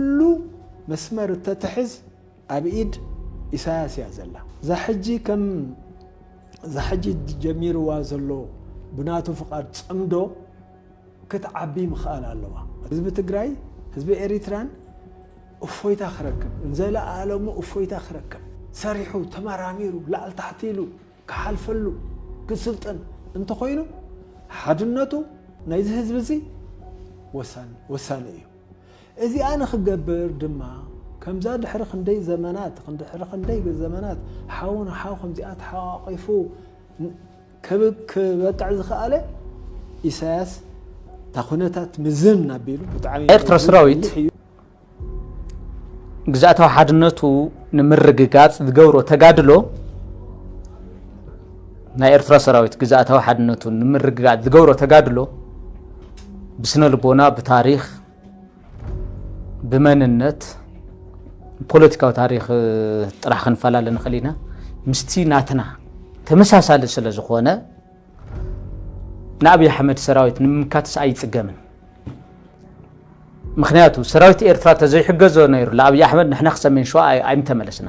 ኩሉ መስመር እተትሕዝ ኣብ ኢድ ኢሳያስ እያ ዘላ። እዛ ሕጂ ከም እዛ ሕጂ ጀሚርዋ ዘሎ ብናቱ ፍቓድ ጽምዶ ክትዓቢ ምኽኣል ኣለዋ። ህዝቢ ትግራይ ህዝቢ ኤሪትራን እፎይታ ክረክብ ንዘለኣለሙ እፎይታ ክረክብ ሰሪሑ ተመራሚሩ ላዕል ታሕቲ ኢሉ ክሓልፈሉ ክስልጥን እንተኾይኑ ሓድነቱ ናይዚ ህዝቢ እዚ ወሳኒ እዩ። እዚኣ ንኽገብር ድማ ከምዛ ድሕሪ ክንደይ ዘመናት ድሕሪ ክንደይ ዘመናት ሓው ንሓው ከምዚኣ ተሓቛቒፉ ክበቅዕ ዝኸኣለ ኢሳያስ እታ ኩነታት ምዝን ኣቢሉ ብጣዕሚ ኤርትራ ሰራዊት ግዝኣታዊ ሓድነቱ ንምርግጋጽ ዝገብሮ ተጋድሎ ናይ ኤርትራ ሰራዊት ግዝኣታዊ ሓድነቱ ንምርግጋእ ዝገብሮ ተጋድሎ ብስነ ልቦና፣ ብታሪኽ፣ ብመንነት፣ ፖለቲካዊ ታሪኽ ጥራሕ ክንፈላለ ንኽእል ኢና ምስቲ ናትና ተመሳሳሊ ስለ ዝኾነ ንኣብዪ ኣሕመድ ሰራዊት ንምምካትስ ኣይፅገምን። ምክንያቱ ሰራዊት ኤርትራ ተዘይሕገዞ ነይሩ ለኣብይ ኣሕመድ ንሕና ክሰሜን ሸዋ ኣይምተመለስና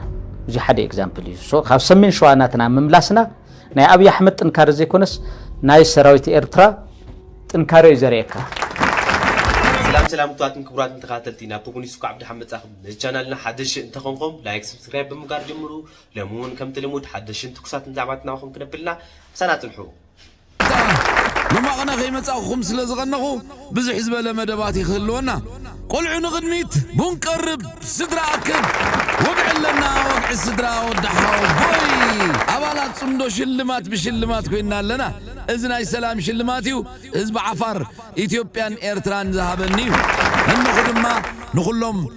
እዚ ሓደ ኤግዛምፕል እዩ ሶ ካብ ሰሜን ሸዋ ናትና ምምላስና ናይ ኣብይ ኣሕመድ ጥንካረ ዘይኮነስ ናይ ሰራዊት ኤርትራ ጥንካረ እዩ ዘርእየካ ሰላም ሰላም ክቡራትን ክቡራትን ተኸታተልቲ ናብ ቶጎኒ ሱካ ዓብዲ ሓመጻኹም ነዚ ቻናልና ሓደሽ እንተኾንኩም ላይክ ሰብስክራይብ ብምጋር ጀምሩ ሎሚ እውን ከምቲ ልሙድ ሓደሽን ትኩሳትን ዛዕባታት ናባኹም ክነብልና ምሳና ጽንሑ ኣብታ መማቕነ ከይመጻእኩኹም ስለ ዝቐነኹ ብዝሕ ዝበለ መደባት እዩ ክህልወና። ቆልዑ ንቕድሚት! ቡን ቀርብ! ስድራ ኣክብ! ወግዒ ኣለና ወግዒ ስድራ ወዲ ሓወቦይ! ኣባላት ጽምዶ ሽልማት ብሽልማት ኮይንና ኣለና። እዚ ናይ ሰላም ሽልማት እዩ ህዝቢ ዓፋር ኢትዮጵያን ኤርትራን ዝሃበኒ እዩ። እንኹ ድማ ንኹሎም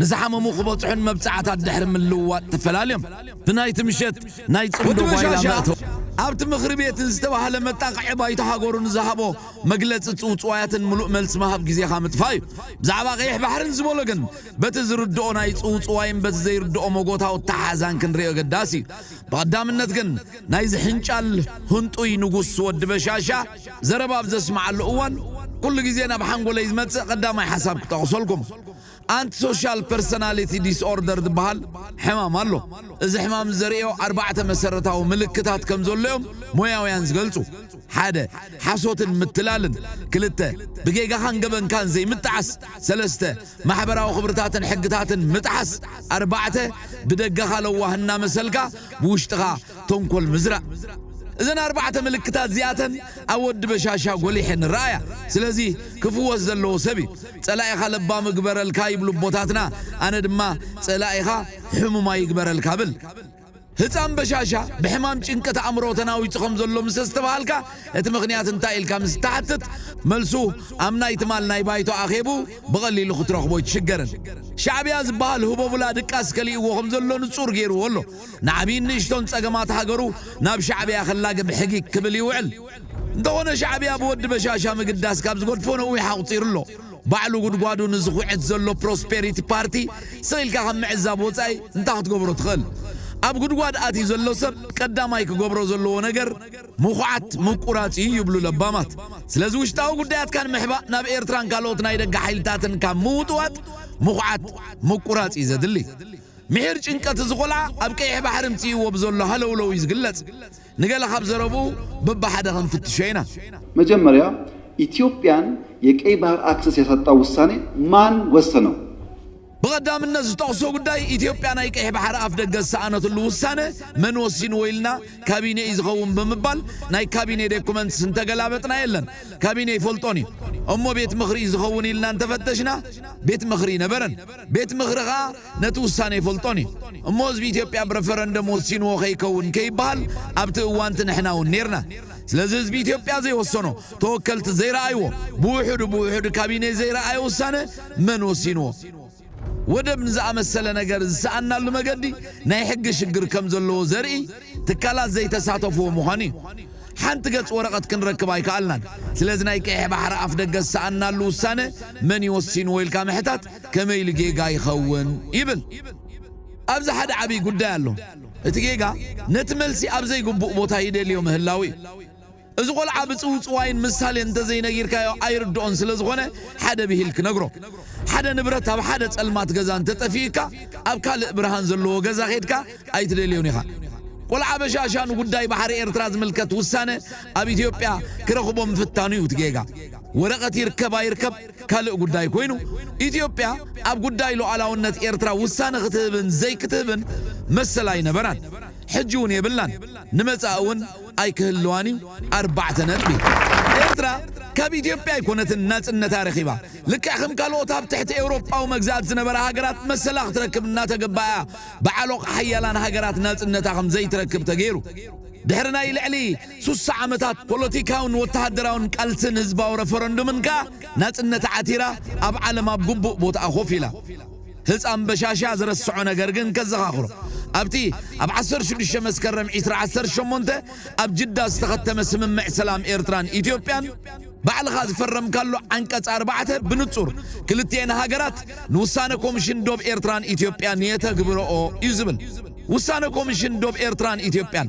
ንዝሓመሙ ክበጽሑን መብጽዓታት ድሕሪ ምልውዋጥ ተፈላልዮም ብናይቲ ምሸት ናይ ጽምዶ ጓይላ መእተዊ ኣብቲ ምኽሪ ቤትን ዝተባህለ መጣቕዒ ባይቶ ሃገሩ ንዝሃቦ መግለጺ ጽውጽዋያትን ምሉእ መልሲ ምሃብ ግዜኻ ምጥፋእ እዩ። ብዛዕባ ቀይሕ ባሕርን ዝበሎ ግን በቲ ዝርድኦ ናይ ጽውጽዋይን በቲ ዘይርድኦ መጎታዊ ኣተሓሕዛን ክንሪኦ ኣገዳሲ እዩ። ብቐዳምነት ግን ናይዚ ሕንጫል ህንጡይ ንጉስ ወዲ በሻሻ ዘረባ ኣብ ዘስምዓሉ እዋን ኩሉ ግዜ ናብ ሓንጎለይ ዝመጽእ ቀዳማይ ሓሳብ ክጠቕሰልኩም። ኣንቲ ሶሻል ፐርሰናሊቲ ዲስኦርደር ዝበሃል ሕማም ኣሎ። እዚ ሕማም ዘርእዮ ኣርባዕተ መሰረታዊ ምልክታት ከም ዘሎ እዮም ሞያውያን ዝገልጹ፣ ሓደ። ሓሶትን ምትላልን፣ ክልተ። ብጌጋኻን ገበንካን ዘይምጥዓስ፣ ሰለስተ። ማሕበራዊ ክብርታትን ሕግታትን ምጥሓስ፣ ኣርባዕተ። ብደገኻ ለዋህ እናመሰልካ ብውሽጥኻ ተንኮል ምዝራእ። እዘን ኣርባዕተ ምልክታት እዚኣተን ኣብ ወዲ በሻሻ ጎሊሐን ይረኣያ። ስለዚ ክፍወስ ዘለዎ ሰብ እዩ። ጸላኢኻ ለባም እግበረልካ ይብሉ ኣቦታትና፣ ኣነ ድማ ጸላኢኻ ሕሙማይ ይግበረልካ እብል። ህጻን በሻሻ ብሕማም ጭንቀት ኣእምሮ ተናዊጹ ከም ዘሎ ምስ ኣስተብሃልካ እቲ ምኽንያት እንታይ ኢልካ ምስ እትሓትት መልሱ ኣብ ናይ ትማል ናይ ባይቶ ኣኼቡ ብቐሊሉ ክትረኽቦ ኣይትሽገርን። ሻዕብያ ዝበሃል ህቦብላ ድቃስ ከሊእዎ ከም ዘሎ ንጹር ገይርዎ ኣሎ። ንዓብይን ንእሽቶን ፀገማት ሃገሩ ናብ ሻዕብያ ክላገ ብሕጊ ክብል ይውዕል። እንተኾነ ሻዕብያ ብወዲ በሻሻ ምግዳስ ካብ ዝገድፎ ነዊሕ ኣቑፂሩ ኣሎ። ባዕሉ ጉድጓዱ ንዝኹዕት ዘሎ ፕሮስፔሪቲ ፓርቲ ስቕ ኢልካ ካብ ምዕዛብ ወፃኢ እንታይ ክትገብሮ ትኽእል? ኣብ ጉድጓድ ኣትዩ ዘሎ ሰብ ቀዳማይ ክገብሮ ዘለዎ ነገር ምኹዓት ምቁራፅ እዩ ይብሉ ለባማት። ስለዚ ውሽጣዊ ጉዳያትካ ንምሕባእ ናብ ኤርትራን ካልኦት ናይ ደገ ሓይልታትን ካብ ምውጥዋጥ ምኹዓት ምቁራፅ እዩ ዘድሊ። ምሒር ጭንቀት እዚ ቆልዓ ኣብ ቀይሕ ባሕሪ ምጺእዎ ብዘሎ ሃለውለው እዩ ዝግለጽ። ንገለ ካብ ዘረብኡ በብሓደ ክንፍትሾ ኢና። መጀመሪያ ኢትዮጵያን የቀይ ባህር ኣክሰስ ያሳጣው ውሳኔ ማን ወሰነው? ብቐዳምነት ዝጠቕሶ ጉዳይ ኢትዮጵያ ናይ ቀይሕ ባሕሪ ኣፍደገ ዝሰኣነትሉ ውሳነ መን ወሲንዎ ኢልና ካቢኔ እዩ ዝኸውን ብምባል ናይ ካቢኔ ዴኩመንትስ እንተገላበጥና የለን ካቢኔ ኣይፈልጦን እዩ እሞ ቤት ምኽሪ እዩ ዝኸውን ኢልና እንተፈተሽና ቤት ምኽሪ ኣይነበረን ቤት ምኽሪ ከኣ ነቲ ውሳነ ይፈልጦን እዩ እሞ ህዝቢ ኢትዮጵያ ብረፈረንደም ወሲንዎ ከይከውን ከይበሃል ኣብቲ እዋንቲ ንሕና እውን ኔርና ስለዚ ህዝቢ ኢትዮጵያ ዘይወሰኖ ተወከልቲ ዘይረኣይዎ ብውሕዱ ብውሕዱ ካቢኔ ዘይረኣዮ ውሳነ መን ወሲንዎ ወደብ ንዝኣመሰለ ነገር ዝሰኣናሉ መገዲ ናይ ሕጊ ሽግር ከም ዘለዎ ዘርኢ ትካላት ዘይተሳተፍዎ ምዃኑ እዩ። ሓንቲ ገጽ ወረቐት ክንረክብ ኣይከኣልናን። ስለዚ ናይ ቀይሕ ባሕሪ ኣፍደገ ዝሰኣናሉ ውሳነ መን እዩ ወሲንዎ ኢልካ ምሕታት ከመይ ኢሉ ጌጋ ይኸውን ይብል። ኣብዚ ሓደ ዓብይ ጉዳይ ኣሎ። እቲ ጌጋ ነቲ መልሲ ኣብ ዘይግቡእ ቦታ ይደልዮ ምህላዉ እዩ። እዚ ቆልዓ ብጽውጽዋይን ምሳሌን እንተዘይነጊርካዮ ኣይርድኦን ስለዝኾነ ሓደ ብሂል ክነግሮ። ሓደ ንብረት ኣብ ሓደ ጸልማት ገዛ እንተጠፊኡካ ኣብ ካልእ ብርሃን ዘለዎ ገዛ ኬድካ ኣይትደልዮን ኢኻ። ቆልዓ በሻሻ ንጉዳይ ባሕሪ ኤርትራ ዝምልከት ውሳነ ኣብ ኢትዮጵያ ክረኽቦ ምፍታኑ እዩ እቲ ጌጋ። ወረቐት ይርከብ ኣይርከብ ካልእ ጉዳይ ኮይኑ፣ ኢትዮጵያ ኣብ ጉዳይ ሉኣላውነት ኤርትራ ውሳነ ክትህብን ዘይክትህብን መሰል ኣይነበራን፣ ሕጂ'ውን የብላን፣ ንመጻኢ'ውን ኣይክህልዋን'ዩ ኣርባዕተ ነጥቢ። ኤርትራ ካብ ኢትዮጵያ ኣይኮነትን ናጽነታ ረኺባ፣ ልክዕ ከም ካልኦት ኣብ ትሕቲ ኤውሮጳዊ መግዛእቲ ዝነበራ ሃገራት መሰላ ክትረክብ እናተገበኣ'ያ ብዓሎቕ ሓያላን ሃገራት ናጽነታ ከም ዘይትረክብ ተገይሩ። ድሕሪ ናይ ልዕሊ። ሱሳ ዓመታት ፖለቲካውን ወተሃደራውን ቃልስን ህዝባዊ ረፈረንዱምን ከኣ ናጽነት ዓቲራ ኣብ ዓለም ኣብ ግቡእ ቦትኣ ኮፍ ኢላ። ህጻን በሻሻ ዝረስዖ ነገር ግን ከዘኻኽሮ። ኣብቲ ኣብ ዓሰርተ ሽዱሽተ መስከረም ዕስራ ዓሰርተ ሸሞንተ ኣብ ጅዳ ዝተኸተመ ስምምዕ ሰላም ኤርትራን ኢትዮጵያን፣ ባዕልኻ ዝፈረምካሉ ዓንቀጽ ኣርባዕተ ብንጹር ክልቲኤን ሃገራት ንውሳነ ኮምሽን ዶብ ኤርትራን ኢትዮጵያን የተግብርኦ እዩ ዝብል። ውሳነ ኮምሽን ዶብ ኤርትራን ኢትዮጵያን፣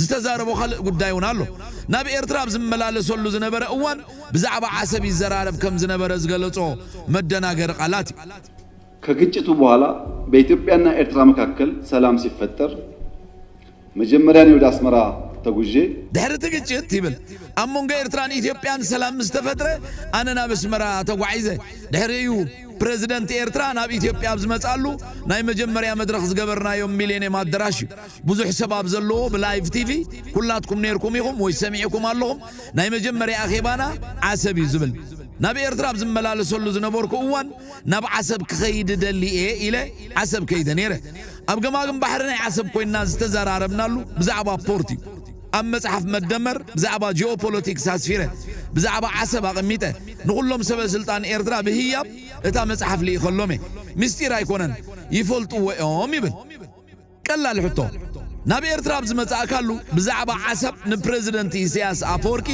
ዝተዛረቦ ካልእ ጉዳይ እውን ኣሎ። ናብ ኤርትራ ኣብ ዝመላለሰሉ ዝነበረ እዋን ብዛዕባ ዓሰብ ይዘራረብ ከም ዝነበረ ዝገለጾ መደናገሪ ቃላት እዩ። ከግጭቱ በኋላ በኢትዮጵያና ኤርትራ መካከል ሰላም ሲፈጠር መጀመርያ እኔ ወደ ኣስመራ ተጉዤ፣ ድሕሪ እቲ ግጭት ይብል ኣብ መንጎ ኤርትራን ኢትዮጵያን ሰላም ምስ ተፈጥረ ኣነ ናብ ኣስመራ ተጓዒዘ። ድሕሪኡ እዩ ፕረዚደንት ኤርትራ ናብ ኢትዮጵያ ኣብ ዝመጽኣሉ ናይ መጀመርያ መድረኽ ዝገበርናዮ ሚሌንየም ኣደራሽ እዩ። ብዙሕ ሰብ ኣብ ዘለዎ ብላይቭ ቲቪ ኩላትኩም ነይርኩም ኢኹም ወይ ሰሚዕኩም ኣለኹም ናይ መጀመርያ ኣኼባና ዓሰብ እዩ ዝብል ናብ ኤርትራ ኣብ ዝመላለሰሉ ዝነበርኩ እዋን ናብ ዓሰብ ክኸይድ እደሊ እየ ኢለ ዓሰብ ከይደ ነይረ ኣብ ገማግም ባሕሪ ናይ ዓሰብ ኮይንና ዝተዘራረብናሉ ብዛዕባ ፖርት እዩ ኣብ መጽሓፍ መደመር ብዛዕባ ጂኦፖለቲክስ ኣስፊረ ብዛዕባ ዓሰብ ኣቐሚጠ ንኹሎም ሰበ ስልጣን ኤርትራ ብህያብ እታ መጽሓፍ ልኢኸሎም እየ ምስጢር ኣይኮነን ይፈልጥዎ እዮም ይብል ቀላል ሕቶ፣ ናብ ኤርትራ ኣብ ዝመጻእካሉ ብዛዕባ ዓሰብ ንፕረዚደንት ኢሰያስ ኣፈወርቂ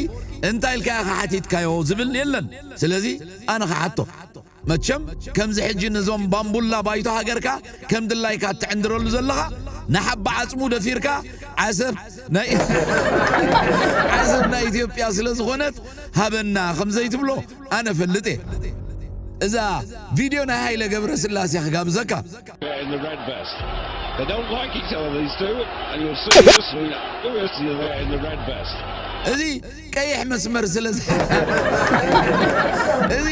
እንታይ ኢልካዮ ከሓቲትካዮ ዝብል የለን። ስለዚ ኣነ ክሓቶ። መቸም ከምዚ ሕጂ ነዞም ባምቡላ ባይቶ ሃገርካ ከም ድላይካ እትዕንድረሉ ዘለኻ ንሓባ ዓጽሙ ደፊርካ ዓሰብ ናይ ዓሰብ ናይ ኢትዮጵያ ስለ ዝኾነት ሃበና ከም ዘይትብሎ ኣነ እፈልጥ እየ። እዛ ቪድዮ ናይ ሃይለ ገብረስላሴ ክጋብዘካ። እዚ ቀይሕ መስመር ስለ እዚ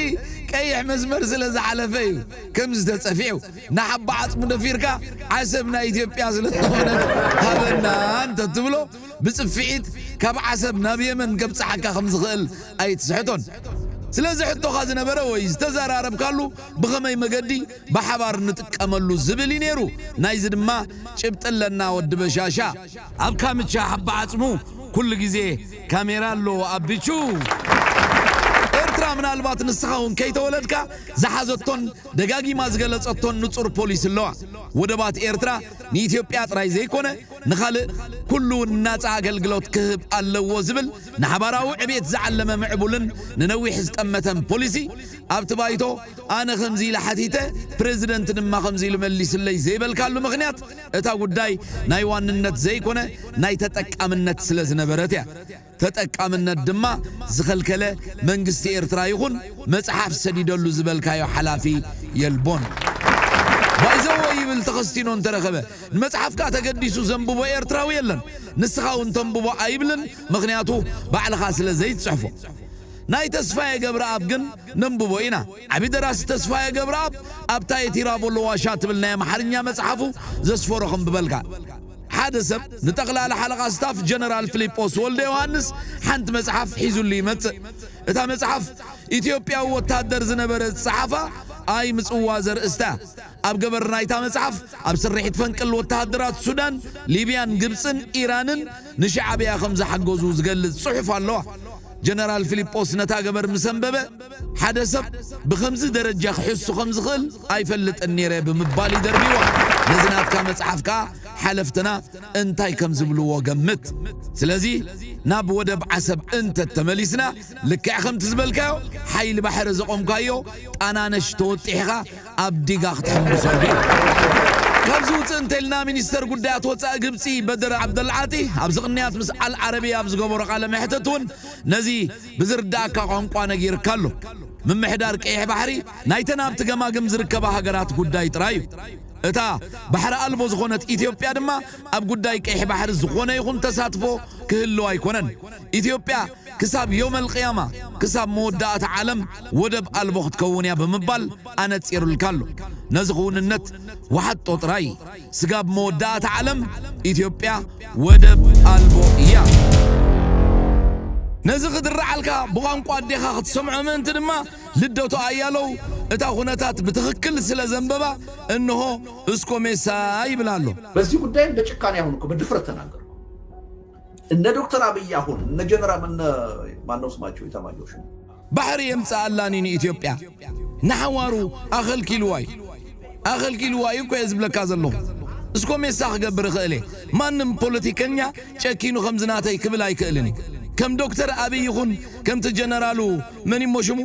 ቀይሕ መስመር ስለ ዝሓለፈ እዩ ከምዚ ተጸፊዑ ንሓባ ዓጽሙ ደፊርካ ዓሰብ ናይ ኢትዮጵያ ስለ ዝኾነት ሃበና እንተትብሎ ብጽፍዒት ካብ ዓሰብ ናብ የመን ከብጽሓካ ከም ዝኽእል ኣይትስሕቶን ስለዚ ሕቶኻ ዝነበረ ወይ ዝተዘራረብካሉ ብኸመይ መገዲ ብሓባር ንጥቀመሉ ዝብል እዩ ነይሩ ናይዚ ድማ ጭብጢ ኣለና ወዲ በሻሻ። ኣብ ካምቻ ሓባ ዓጽሙ ኩሉ ግዜ ካሜራ ኣሎ ኣቢቹ። ኤርትራ ምናልባት ንስኻ ውን ከይተወለድካ ዝሓዘቶን ደጋጊማ ዝገለጸቶን ንጹር ፖሊሲ ኣለዋ። ወደባት ኤርትራ ንኢትዮጵያ ጥራይ ዘይኮነ ንኻልእ ኩሉ ውን ናጻ ኣገልግሎት ክህብ ኣለዎ ዝብል ንሓባራዊ ዕቤት ዝዓለመ ምዕቡልን ንነዊሕ ዝጠመተን ፖሊሲ ኣብቲ ባይቶ ኣነ ከምዚ ኢለ ሓቲተ ፕረዚደንት ድማ ከምዚ ኢሉ መሊሱለይ ዘይበልካሉ ምኽንያት እታ ጉዳይ ናይ ዋንነት ዘይኮነ ናይ ተጠቃምነት ስለ ዝነበረት እያ። ተጠቃምነት ድማ ዝኸልከለ መንግስቲ ኤርትራ ይኹን መጽሓፍ ሰዲደሉ ዝበልካዮ ሓላፊ የልቦን። ባይዘወይ ይብል ተኸስቲኖ እንተረኸበ ንመጽሓፍካ ተገዲሱ ዘንብቦ ኤርትራዊ የለን። ንስኻ እውን ተንብቦ ኣይብልን ምኽንያቱ ባዕልኻ ስለ ዘይትጽሕፎ። ናይ ተስፋየ ገብረኣብ ግን ነንብቦ ኢና። ዓቢ ደራሲ ተስፋየ ገብረኣብ ኣብታ የቲራቮሎ ዋሻ ትብል ናይ ኣምሓርኛ መጽሓፉ ዘስፈሮ ከንብበልካ። ሓደ ሰብ ንጠቕላሊ ሓለቓ ስታፍ ጀነራል ፍሊጶስ ወልደዮሃንስ ሓንቲ መጽሓፍ ሒዙሉ ይመጽእ። እታ መጽሓፍ ኢትዮጵያዊ ወታደር ዝነበረ ዝጸሓፋ ኣይ ምጽዋ ዘርእስታ እያ። ኣብ ገበር ናይታ መጽሓፍ ኣብ ስርሒት ፈንቅል ወተሃደራት ሱዳን፣ ሊብያን፣ ግብጽን ኢራንን ንሽዓብያ ከም ዝሓገዙ ዝገልጽ ጽሑፍ ኣለዋ። ጀነራል ፊሊጶስ ነታ ገበር ምስ ኣንበበ፣ ሓደ ሰብ ብኸምዚ ደረጃ ክሕሱ ከም ዝኽእል ኣይፈልጥን ነይረ ብምባል እዩ ደርብይዋ። ነዚ ናትካ መጽሓፍ ከኣ ሓለፍትና እንታይ ከም ዝብልዎ ገምት። ስለዚ ናብ ወደብ ዓሰብ እንተ ተመሊስና፣ ልክዕ ከምቲ ዝበልካዮ ሓይሊ ባሕሪ ዘቖምካዮ ጣናነሽ ተወጢሕኻ ኣብ ዲጋ ክትሕምብሰሉ ኢያ። ካብዚ ውጽእ እንተልና ሚኒስተር ጉዳያት ወጻኢ ግብጺ በድር ዓብደልዓጢ ኣብዚ ቅንያት ምስ ኣል ዓረብያ ኣብ ዝገበሮ ቃለ መሕትት ውን ነዚ ብዝርድኣካ ቋንቋ ነጊርካ ኣሎ። ምምሕዳር ቀይሕ ባሕሪ ናይተን ኣብቲ ገማግም ዝርከባ ሃገራት ጉዳይ ጥራይ ኢዩ። እታ ባሕሪ ኣልቦ ዝኾነት ኢትዮጵያ ድማ ኣብ ጉዳይ ቀይሕ ባሕሪ ዝኾነ ይኹን ተሳትፎ ክህልዋ ኣይኮነን። ኢትዮጵያ ክሳብ ዮመል ቂያማ፣ ክሳብ መወዳእታ ዓለም ወደብ ኣልቦ ክትከውን እያ ብምባል ኣነጺርልካ ኣሎ። ነዚ ክውንነት ወሓጦ ጥራይ። ስጋብ መወዳእታ ዓለም ኢትዮጵያ ወደብ ኣልቦ እያ። ነዚ ክድርዓልካ ብቋንቋ ኣዴኻ ክትሰምዖ ምእንቲ ድማ ልደቱ ኣያለው እታ ኩነታት ብትኽክል ስለ ዘንበባ እንሆ እስኮ ሜሳ ይብል ኣሎ። በዚህ ጉዳይም በጭካኔ አሁን እኮ በድፍረት ተናገርኩ። እነ ዶክተር ኣብይ ኣሁን እነ ጀነራም እነ ማነው ስማቸው ኢታማጆር ሹም። ባሕሪ የምጽኣላኒ ንኢትዮጵያ ንሓዋሩ ኣኸልኪልዋዩ ኣኸልኪልዋዩ እኮየ ዝብለካ ዘለኹ እስኮ ሜሳ ክገብር እኽእል እየ ማንም ፖለቲከኛ ጨኪኑ ከምዚ ናተይ ክብል ኣይክእልን እዩ ከም ዶክተር ኣብይ ይኹን ከምቲ ጀነራሉ መን እሞ ሽሙ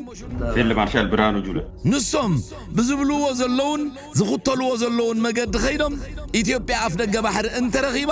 ፊልድ ማርሻል ብርሃኑ ጁለ። ንሶም ብዝብልዎ ዘለዉን ዝኽተልዎ ዘለዉን መገዲ ከይዶም ኢትዮጵያ ኣፍደገ ባሕሪ እንተረኺባ